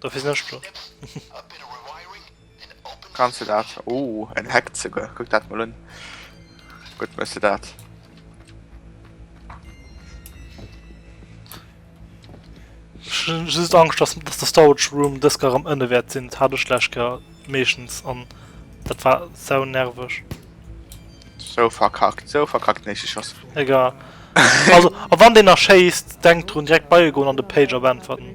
Dofir sinn ech do. Kanns de dat? Oh, en Hack souguer. Kuck dat mol un. Gutt méchs de dat. Ech hunn just Angscht, dass dass de Storage Room dës Kéier erëm ënne wäert sinn. Dat hat ech d'lescht Kéier meeschtens an dat war sau nerveg. Sou verkackt, sou verkackt. Nee, ech si Schoss. Egal. Also, a wann deen nach schéisst, denkt drun direkt bei e goen an de Pager beäntwerten.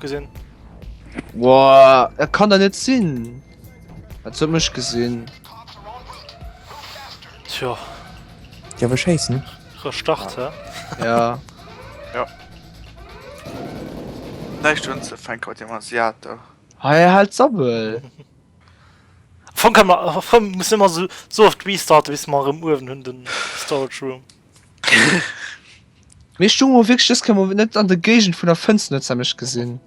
gesinn Woah, er kann da net sinn Dat huet mech gesinn Tjo Ja we chasen Re start he Ja Jo Näischt un ze fänke mat deem Asiato Hei hie hält Sabbel Fong kann mer erëm muss ëmmer sou oft restarten bis mer erëm uewen hunn den Storage Room. Mir stu mo wég just kann mo net an der Gegend vun der Fënster net sam mech gesinn.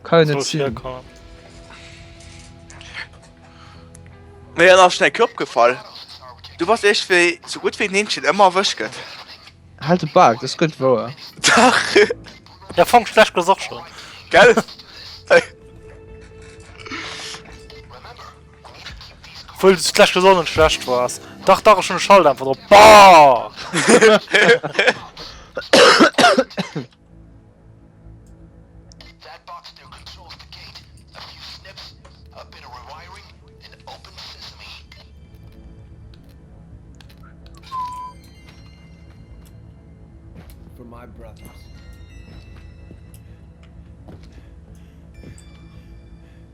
Ka jo net sinn. Mir an nach schnell Klopp gefall. Du warst echt wéi so gut wéi Neenchen ëmmer erwësch gëtt. Halt de Bak, dat gëtt wouer. Dach! Ja fong schlecht gesoch schon. Gell? Obwohl es gleich gesund und schlecht war. Dach, dach, schon Schalt einfach drauf. Bah! For my brothers.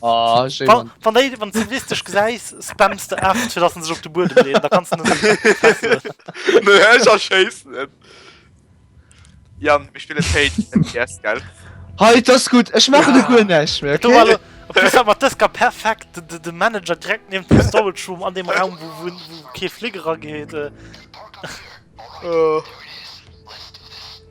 Ah, schön. Wann, wann, de, wann du listisch gesäis spamst de acht fir lassen sech op de Bur leen da kannst du Ja ich spiele yes, geil Hei das gut Ech mache de gun nech mat dës ka perfekt de, de Manager direkt ne de Storroom an dem Raum wo wun ke Fliggerer geet. Äh. Oh.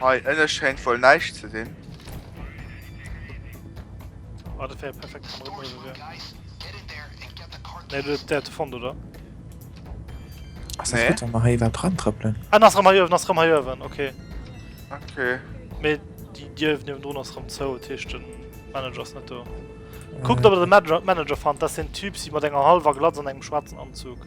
Hei ënne schéint wuel näischt ze sinn. Ah, dat wär perfekt. Nee, du dat du fond oder? Ass nee. dat mal hei iwwer dran trëppeln? Ah, ass rëm hei oewen, ass rëm hei oewen, okay. Okay. Mee déi Dier niewent drun ass rëm zou, dat heescht den Manager ass net do. Kuckt ob der den Manager, Manager fannt, dat ass den Typ si mat enger halwer Glatz an engem schwaarzen Anzug.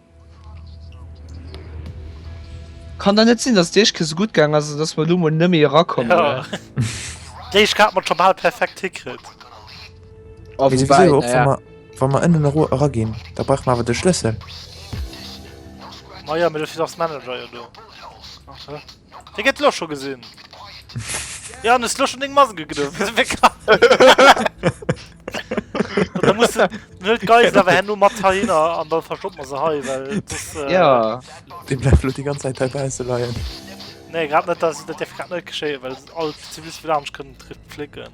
Kann dann net sinn dass déi éischt Kéier sou gutt gaang ass an dass mer elo mol net méi erakommen. Déi éischt Kéier hat mer et scho bal perfekt hikritt. Mee souwisou och wa mer wa mer ënnen eru eraginn da brauche mer awer de Schlëssel. Majo mee dofir ass Manager jo do. Dir gett lo scho gesin. Jo an hues lo schon deng Mask gedoen. Da muss de net d'Geisel awer herno mat heihinner an da verstoppen mer se hei well sos. Jo. Dee bleift lo déi ganz Zäit hei bausse leien. Nee grad net, dat dierf grad net geschéien well all d'Ziviliste vun anescht kënnen dr flécken.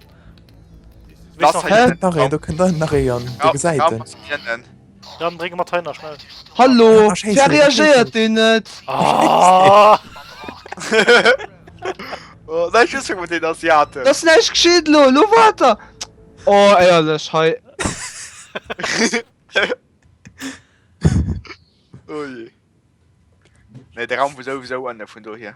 Hä? Nach een, do kënnt nach ee an der Gesäit en. Dann bringe mat heiner schnell. Hallo wer reagéiert den net ah! oh, den Asiaten Das näich geschiet lo lo water Oh eierlech hei oh je. Nee, de Raum wo sowieso an vun do hier.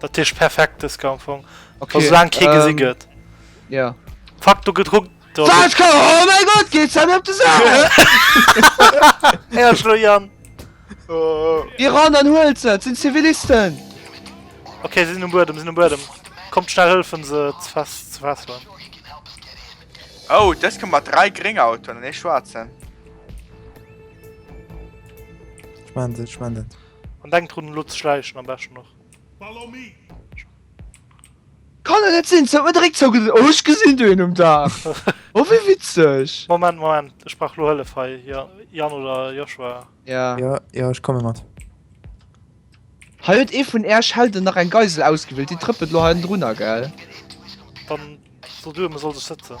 Dat heescht perfekt dës Game am Fong. Okay. Sou laang kee gesi gëtt. Ja. Fuck, do gëtt Ruck. Wat ka oh mein Gott, geet ze mir op de Sa! Här Schloian! Oh. Di ran an huelt se, sinn Zivilisten! Okay, sinn um Buedem, sinn um Buedem. Kommt schnell hëlfen se ze fest ze fesseln. Oh, dës kënnt mat 3 gréng Autoen an ee schwaarzen. Schmant et, schmant et. An denk drun elo ze schleichen am beschten och. Kann et net sinn se huet mer direkt zou gesinn oh ech gesinn do een um Daach oh wéi witzeg. Moment Moment ech brauch lo Hëllef hei jo Yann oder Joshua. Jo jo jo ech komme mat. Hei huet ee vun äerch Helden nach eng Geisel ausgewielt déi trëppelt lo hei ënnerdrunner gell. Dann so duer me soll sech sëtzen.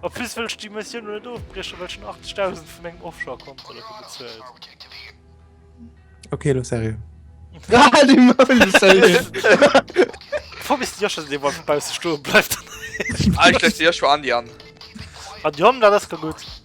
Op plus wëllt die Mission net ofbrieche well schon 80.000 vun engem Offshore kommt bezuelt. Okay lo serie. Fu bis Dir schon de wat vubau ze stoen bleift. Eich dir schon an die an. An Jom dat ass ka gut.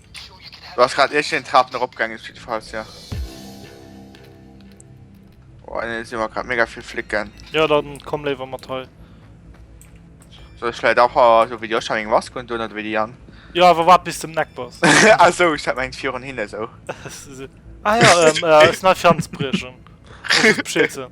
Du hast grad irgend een Trapen erop gaangen op jidde Falls jo. Boah nee si mer grad mega vill Flicken. Jo dann komm léiwer mat hei. Soll ech vläit och a sou wéi Joscha meng Mask undun oder wéi déi Jan? Jo awer waart bis de um Neck bass. Ah sou ech hat mengt virun hinne sou. Ah jo, ähm, äh, ass nei Fianzbriechen. Muss ech Bescheed soen.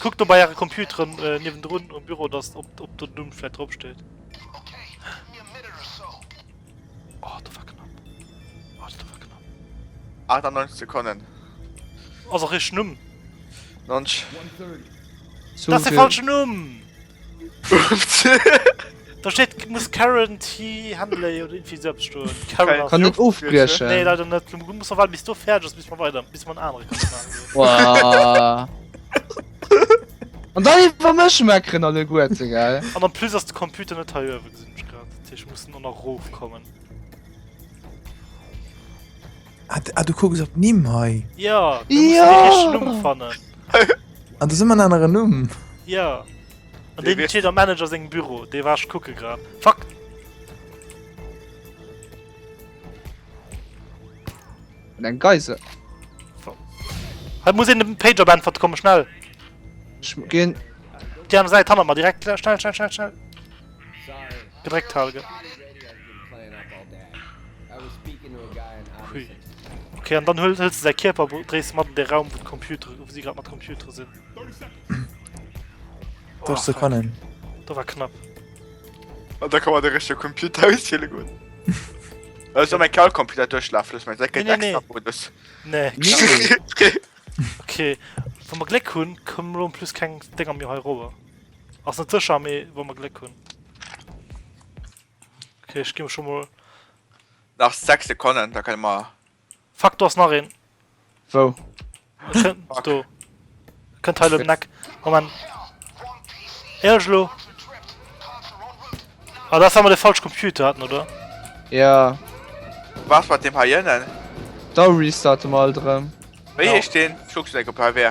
Kuckt do bei äre Computeren niewendrun um Büro, dass op den Numm vläit drop steet. Oh, dat war knapp. Oh, dat war knapp. 98 Sekonnen. Ass och richteg Numm. Nonch. Dat ass de falschen Numm! Da steht muss Karen T Handley oder irgendwie selbst stoen. Karen kann net ofbriechen. Nee, leider net. Du muss mal bis du fertig bist, bis man weiter, bis man andere kann machen. Und dann war mir schon mal Krenner der Gurte, gell? Und dann plus, dass der Computer nicht hier gesehen ich gerade. Ich muss nur noch hochkommen. Ah, ah, du kucks op Nimm hei. Ja, du musst ja. den richtigen Numm fannen. An du simmer anere Numm. Ja. An den steet am Manager sengem Büro, dee war ech kucke grad. Fuck! Und ein Geise. Halt muss in den Pager Band verkommen, schnell. Ich gehen. Die andere Seite haben wir mal direkt. Schnell, schnell, schnell, schnell. Gedréckt halen. Okay, an dann hëlls du säi Kierper, dréis mat an de Raum vu Computer, wou si grad mat Computer sinn. Dat ze fannen. Da war knapp. An da kann man de richtige Computer ausziele goen. Ech soll mein Kalcomputer duerchlafen, meng Säcke Nee, nee, nee. Modus. Nee. Okay, wa mer Gléck hunn, kommen elo en plus keng Dénger méi hei rower. Ass net sécher, mee wa mer Gléck hunn. Ok, ech gi mech scho mol. Nach 6 Sekonnen, da kënne mer. Fuck, do ass nach een. Wou? Do. Kënnt hei elo um Eck. Moment. Ehrlech elo? Ah, dat war mol de falsche Computer hatten, oder? Ja. Was mat deem heiënnen? Da restarten mer alt erëm. Wéi heescht deen? Ech kucke se op HW.